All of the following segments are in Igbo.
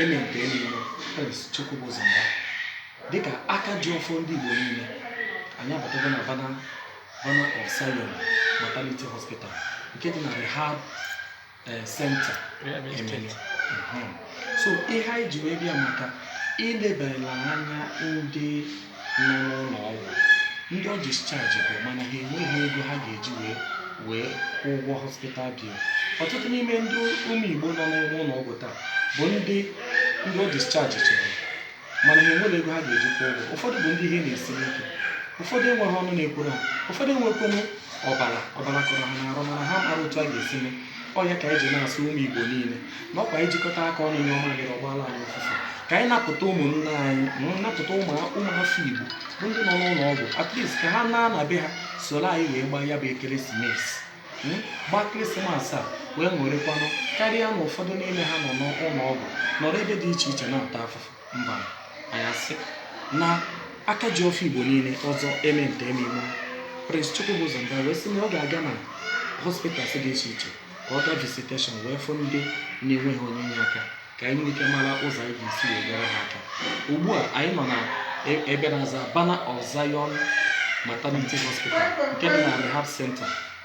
Eme nta eme imo Prince Chukwubuzo Mba dịka aka ji ọfọ ndị Igbo niile anyị abatago na Banner Banner of Zion Maternity Hospital nke dị na Rehab eh, Center Emene Mhm. so ihe anyị ji wee bịa maka ilebara anya ndị nọ n'ụlọ ọgwụ ndị ọ discharge bụ mana ha enweghị ego ha ga-eji wee wee kwụ ụgwọ hospital bill ọtụtụ n'ime ndị ụmụ igbo nọ n'ụlọ ọgwụ taa bụ ndị ndị a dischargịrị mana ha enweghị ego ha ga-eji kwụ ụgwọ ụfọdụ bụ ndị ihe na-esiri ike ụfọdụ enweghị ọnụ na-ekwuru ha ụfọdụ enwekwanụ ọbara ọbara kọrọ ha n'arụ mana ha amarọ otu a ga-esi mee ọ ya ka anyị ji na-asị ụmụ Igbo niile na ọ kwa ijikọta aka ọnụ nyụọ mamịrị ọ gbaala anyị ụfụfụ ka anyị napụta ụmụnne anyị mm, napụta ụmụafọ Igbo bụ ndị nọ n'ụlọ ọgwụ at least ka ha naa na be ha soro anyị wee gbaa ya bụ Christmas mm, gbaa Christmas a wee ṅụrịkwanụ karịa na ụfọdụ n'ime ha nọ n'ụlọ ọgwụ nọrọ ebe dị iche iche na-ata afụfụ mba anyị asị na aka ji ọfọ igbo niile ọzọ eme nta eme imo prince chukwubuzo mba wee sị na ọ ga-aga na hospitals dị iche iche ka ọ gaa visitation wee fụ ndị na-enweghị onye inye aka ka anyị nwee ike mara ụzọ anyị ga-esi wee nyere ha aka ugbu a anyị nọ na e- ebe na-aza Banner of zion maternity hospital nke dị na rehab center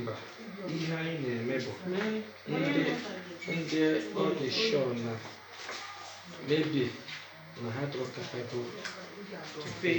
mba ihe anyị na-eme bụ ndị ndị a discharge na maybe na ha adịrọ capable to pay.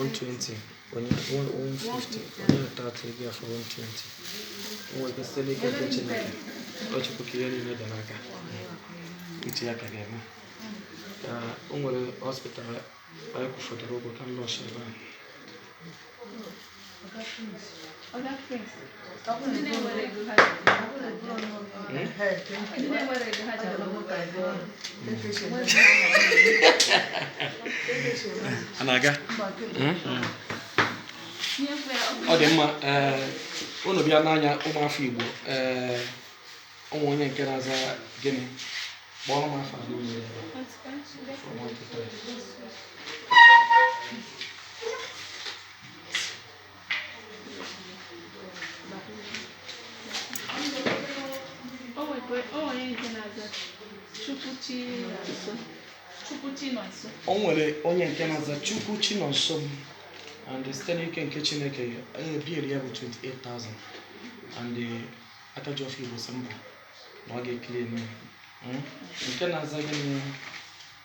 One twenty, one one fifty, one thirty, ị ga-afụ one twenty. O nwere ike site n'ike nke Chineke, ọ chụpụ ka ihe niile dara aka. Uche ya ka ga-eme. Ka o nwere hospital anyị kwụfọdụrụ ụgwọ ka m nọọsụ ebe ahụ. a na-aga ọ dị mma ee unu bịa n'anya ụmụafọ igbo ee ụmụ onye nke na-aza gịnị kpọrọ m afọ abụọ unu ebe a. From one to three. o nwere onye nke na-aza chukwu chinonso m and site n'ike nke chineke eh, bill ya bụ 28000 and eh, aka ji ọfọ igbo sị mụ na ọ ga-eclear m ya. Mm? nke na-aza gịnị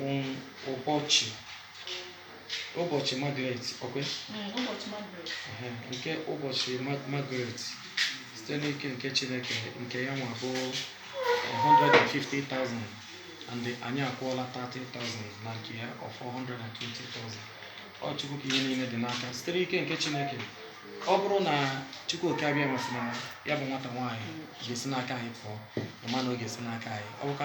um ụbọchị ụbọchị Margaret ọkwe Mm, ụbọchị Margaret. Ehe, nke ụbọchị Ma- Margaret site n'ike nke Chineke nke ya nwa bụ 150,000 and anyị akwụọla 30,000 na nke ya ọ fọ 120,000 ọ Chukwu ka ihe niile dị n'aka site n'ike nke Chineke ọ bụrụ na Chukwu oke abịama sị na ya bụ nwata nwaanyị ga-esi n'aka anyị pụọ ma na ọ ga-esi n'aka anyị ọ bụkwa